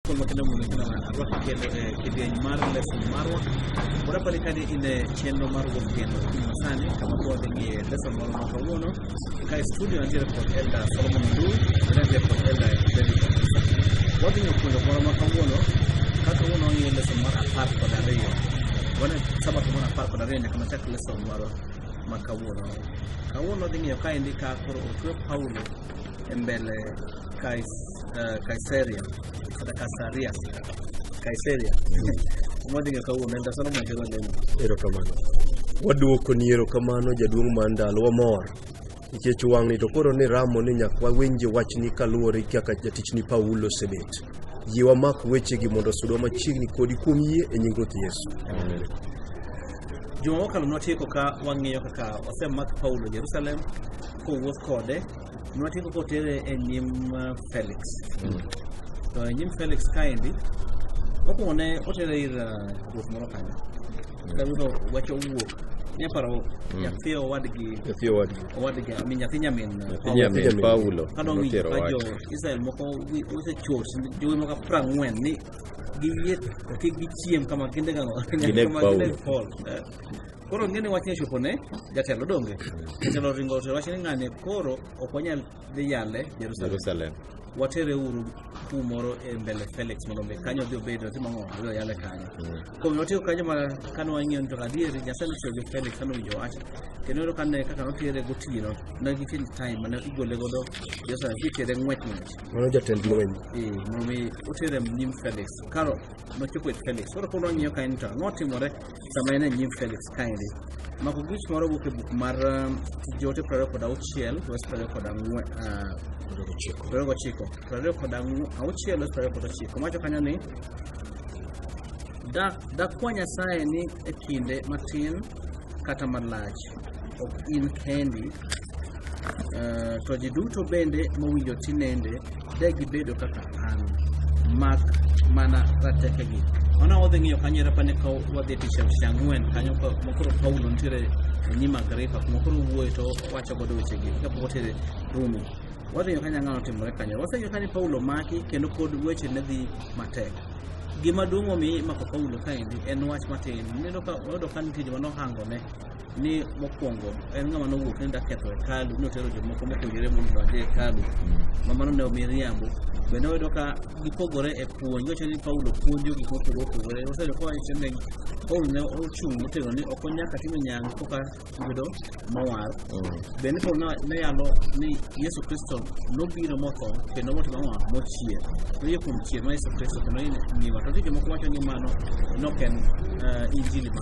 Kwamba kina mundo kina arwako kendo e kidieny mar lesson marwa wadapani kani in e chenro mar wuok kendo kino sani kama koro dhi ng'iye lesson moro ma kawuono ka e studio nitiere kod elda solomon ndu kendo nitiere kod elda david wadhi ng'iyo puonjo moro ma kawuono ka kawuono wang'iyo lesson mar apar kod ariyo wane sabato mar apar kod ariyo nyaka machak lesson marwa ma kawuono kawuono dhi ng'iyo kaendi ka koro otwe paulo embele Kais, uh, Kaiseria kata Kasaria Kaiseria modi ng'e kawuono en tasano machelo lemo erokamano waduoko ni erokamano jaduong' mar ndalo wamor nikech wang'ni to koro ni ramo ni nyaka wawinje wachni kaluwore gi kaka jatichni paulo osebet yie wamak wechegi mondo osudwa machiegni kodi kuom yie e nying ruoth yesu juma mokalo nwatieko ka wang'iyo kaka osemak paulo jerusalem kowuoth kode nwatieko kotere e nyim uh, Felix mm. to e nyim Felix kaendi mokwongo ne otere ir uh, ruoth moro kanyo ka ruoth owacho wuok nyaparo mm. nyathi owadgi nyathi owadgi owadgi ami nyathi nyamin nyamin Paulo kadong jo Israel moko osechor jowi moko prang'wen ni giyie kik gichiem kama kinde kama kinde Paul Koro ngene wachni ochopo ne jatelo donge? Jatelo ringo otere wach ni ng'ane koro ok wanyal dhi yale Jerusalem. Jerusalem. Watere uru kumoro e mbele Felix mondo mi kanyo odhi obed otim ang'o odhi oyale kanyo. Kuom notiyo kanyo ma kane wang'iyo ni to adier Nyasaye notiyo gi Felix kane owinjo wach. Kendo ero kane kaka notere gotieno ne gitin time mane igole godo Jerusalem kitere ng'wech ng'wech. Mano jatend lweny. Eh, mondo mi otere nyim Felix. Karo nochopo e Felix. Koro koro wang'iyo kanyo ni to ang'o timore sama en e nyim Felix kaendi. Mako gich moro wuok e buk mar um, Tich Joote prariyo kod auchiel wes prariyo kod ang'wen ah, prariyo gochiko prariyo kod ang'w- auchiel wes prariyo kod ochiko mawacho kanyo ni "Da- dakwa Nyasaye ni e kinde matin kata malach ok in kendi uh, to ji duto bende mowinjo tinende de gibedo kaka an mak mana ratekegi ona wadhi ng'iyo kanyo era pane ka wadhi e tich tich ang'wen kanyo ka- makoro paulo nitiere onyima agripa makoro wuoye to wacho godo wechegi kapok otere rumi wadhi ng'iyo kanyo ang'ano timore kanyo waseng'iyo kanyo paulo maki kendo pod weche ne dhi matek gima duong' omi imako paulo kaendi en wach matin neno ka wayudo ka nitie joma nohangone ni mokwongo en ng'ama nowuok ni daketho hekalu ni otero jomoko mopuonjore mondo odonje hekalu ma mano ne miriambo bende oyudo ka gipogore e puonj wacho ni paulo puonjo gik mopogore opogore osedo kowacho ni paulo ne ochung' motegno ni ok onyaka timo nyangu koka yudo mowar bende paulo ne- ne yalo ni yesu kristo nobiro motho kendo motimo ang'o mochier noyie kuom chier ma yesu kristo kendo ni ngima to nitie jomoko wacho ni mano ne ok en eh, injili ma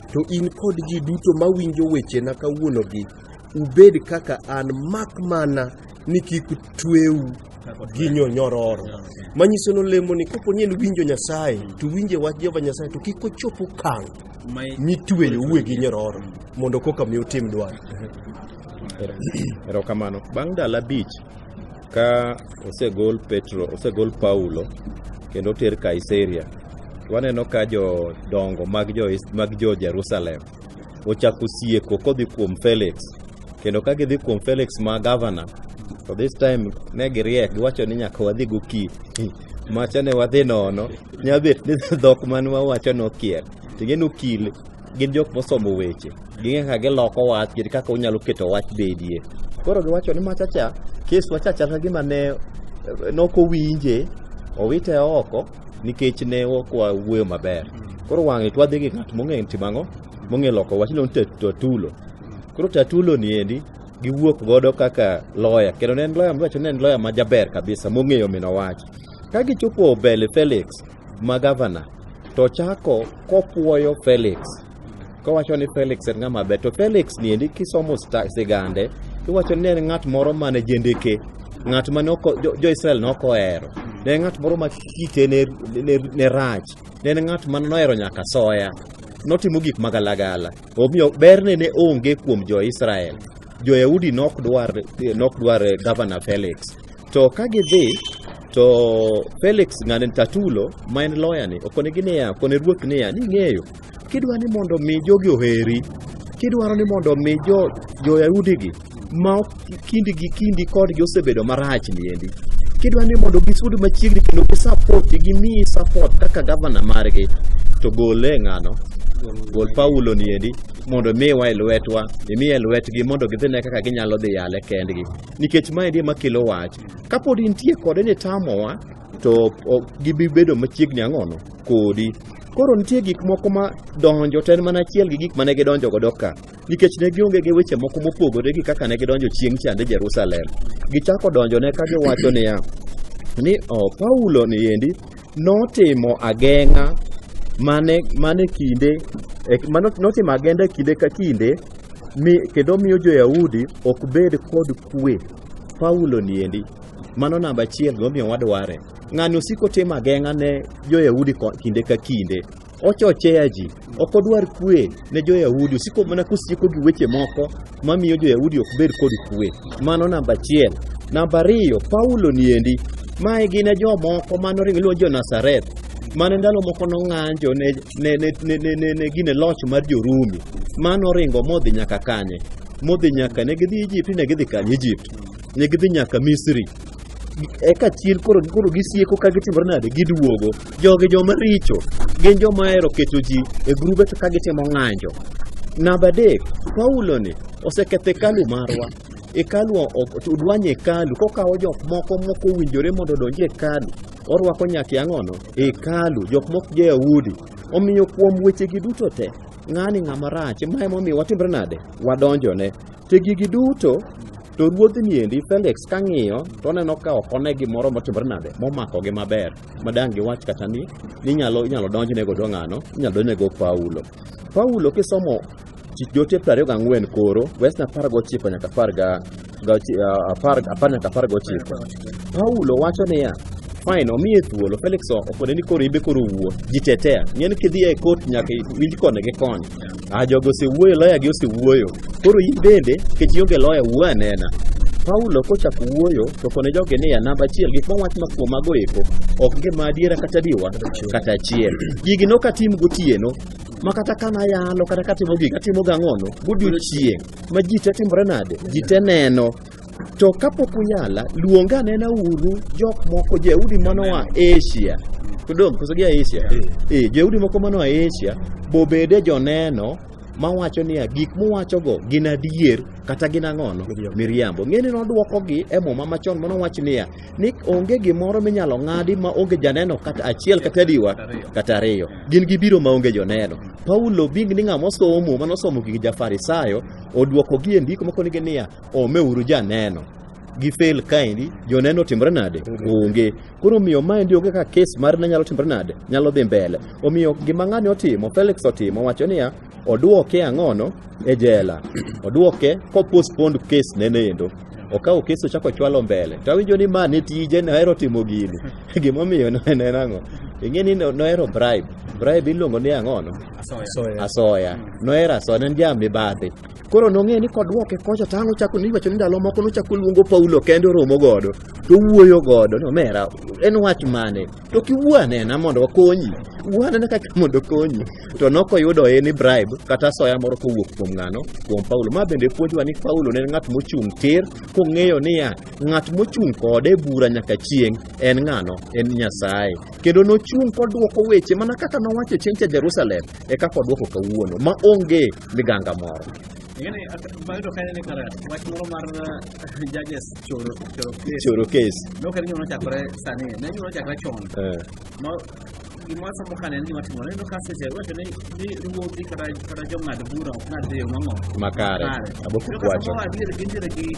To in kod ji duto ma winjo wechena kawuonogi, ubed kaka an, mak mana ni kik tweu gi nyororo. Manyiso ni olemo ni kapo ni en winjo Nyasaye, to winje wach Jehova Nyasaye, to kik ochop okang' mitweyo uwe gi nyororo, mondo koka mi utim dwaro. Erokamano. Bang' ndalo abich, Ka osegol Petro, osegol Paulo kendo oter Kaiseria, to waneno ka jodongo mag jo mag jo Jerusalem ochako sieko kodhi kuom Felix kendo ka gidhi kuom Felix ma gavana to this time ne giriek giwacho ni nyaka wadhi goki macha ne wadhi nono nyabet ni dhok man wawacho nokier ting'e nokil gin jok mosomo weche ging'e kaka giloko wach kendo kaka onyalo keto wach bedie koro giwacho ni machacha keswa cha chal ka gima ne eh, nok owinje owite oko nikech ne ok wawuoyo maber koro wang'e to wadhi gi ng'at mong'e timo ang'o mong'e loko wach iluongo ni tatulo koro tatulo ni endi giwuok godo kaka loya kendo ne en loya mwacho ne en loya majaber kabisa mong'eyo mino wach ka gichopo mbele felix ma gavana to chako kopwoyo Felix kowacho ni Felix en ng'ama ber to Felix ni endi kisomo sta- sigande iwacho ni en ng'at moro mane jendeke ng'at mane oko- jo- jo-Israel noko ohero ne en ng'at moro ma kite ne, ne, ne rach ne en ng'at mane nohero nyaka soya notimo gik magalagala omiyo berne ne onge kuom jo-Israel Jo-Yahudi ne ok dwar, ne ok dwar eh, Governor Felix. To ka gidhi to Felix ng'ani Tatulo ma en lawyer ni okonegi niya, okone ruoth niya, ni ng'eyo kidwa ni mondo mi jogi oheri, kidwaro ni mondo mi jo jo-Yahudi gi ma ok kindi gi kindi kodgi osebedo marach ni endi kidwa ni mondo gisud machiegni kendo gi support gi mi support kaka governor margi to gole ng'ano gol Paulo ni endi mondo imiwa e lwetwa imiye e lwetgi mondo gidhine kaka ginyalo dhi yale kendgi nikech maendi ema kelo wach kapod intie kode ni tamowa to o- gibi bedo machiegni ang'ono kodi koro nitie gik moko ma donjo to en mana achiel gi gik mane gidonjo godo ka nikech ne gionge gi weche moko mopogore gi kaka ne gidonjo chieng' chande jerusalem gichako donjone ka giwacho niya ni oh, paulo ni endi notimo ageng'a mane mane kinde notimo agenda e kinde ka kinde mi kendo miyo jo-Yahudi ok bed kod kwe. Paulo niendi, mano namba achiel gimomiyo wadware. Ng'ani osiko timo ageng'a ne jo-Yahudi kinde ka kinde Ochochea ji, ok odwar kwe ne jo-Yahudi, osiko mana kosieko gi weche moko mamiyo jo-Yahudi ok bed kod kwe. Mano namba achiel. Namba ariyo, Paulo niendi, mae gin e jomoko mane oringo iluongo jo-Nazareth, mane ndalo moko nong'anjo ne, ne, ne, ne, ne, ne, ne gine loch mar jo-Rumi, mane oringo modhi nyaka kanye? Modhi nyaka, ne gidhi Egypt, ne gidhi kanye Egypt? Ne gidhi nyaka Misri. eka chien koro koro gisieko ka gitimore nade giduogo jogi joma richo gin joma hero keto ji e grube to ka gitimo ng'anjo namba adek paulo ni oseketho hekalu marwa hekalu ok- odwanye hekalu kokawo jok moko moko owinjore mondo odonj e hekalu orwako nyaka ang'ono e hekalu jok mok jo-yahudi omiyo kuom wechegi duto te ng'ani ng'ama rach ma emomiyo watimre nade wadonjone To gigi duto to ruodhni endi Felix kang'iyo to oneno ka ok one gimoro motimore nade momakogi maber madang' giwach kata ni inyalo inyalo donjne godo ng'ano inyalo donjne go Paulo. Paulo kisomo Tich Joote piero ariyo gang'wen koro wes na apar gochiko nyaka apar ga ga- ah, apar apar nyaka apar gochiko Paulo wacho niya fine omiye thuolo Felix okone ni koro ibe koro wuo jitetea ng'eni kidhi e kot nyaka iwinj koni gi koni Ah, jogo osewuoyo, loyagi osewuoyo. Koro in bende, nikech ionge loya, wuo anena. Paulo kochako wuoyo to kone joge niya, namba achiel, gik mowach ma kuom mago eko ok ngima adiera kata diwa kata achiel. Gigi nok atim gotieno ma kata ka nayalo kata katimo gigi atimo gang'ono godiochieng' ma ji te timore nade ji te neno To kapok uyala, luonga nena uru jok moko Jayahudi mano wa Asia. Kudong, koso gia Asia. Eh, Jayahudi moko mano wa Asia bobede joneno mawacho niya gik muwachogo gin adier kata gin ang'ono Miriambo. miriambo ng'eni nodwokogi e muma machon mano wach niya ni onge gimoro minyalo ng'adi ma onge janeno kata achiel kata adiwa kata ariyo gin gibiro ma onge joneno paulo bing ni ng'ama osomo muma nosomo gi jafarisayo odwokogi e ndiko makonigi niya omeuru janeno gi fail kaendi joneno timre nade onge koro omiyo maendi onge ka kes mar ne nyalo timre nade nyalo dhi mbele omiyo gima ng'ani otimo felix otimo wacho niya odwoke ang'ono e jela odwoke kopostpond kes nenendo okawo kes ochako ochwalo mbele to awinjo ni ma ne tije nohero timo gini gimomiyo no- en en ang'o ing'e ni no- nohero bribe bribe iluongo ni ang'ono asoya asoya nohero asoya ne en ja mibadhi Koro nong'e ni kodwoke kocha to ang' ochako ni iwacho ni ndalo moko nochako luongo Paulo kende oromo godo to owuoyo godo ni omera en wach mane to kiwuo anena mondo wakonyi wuo anena kaka mondo okonyi to nokoyudo en ni bribe kata asoya moro kowuok kuom ng'ano kuom Paulo ma bende puonjwa ni Paulo ne en ng'at mochung' tir kong'eyo niya ng'at mochung' kode e bura nyaka chieng' en ng'ano en Nyasaye kendo nochung' kodwoko weche mana kaka nowacho chieng' cha Jerusalem e kaka odwoko kawuono ma onge liganga moro ngene mayudo ka ne kara wach moro mar eh, judges choro choro case choro case no kare nyono chakore sani ne nyono chakore chon eh ma gima somo kane ni watimo ne no kase je wacho ni ni ruodhi kata kata jong'ad bura ok ng'ad yo mang'o makare aboko kwacho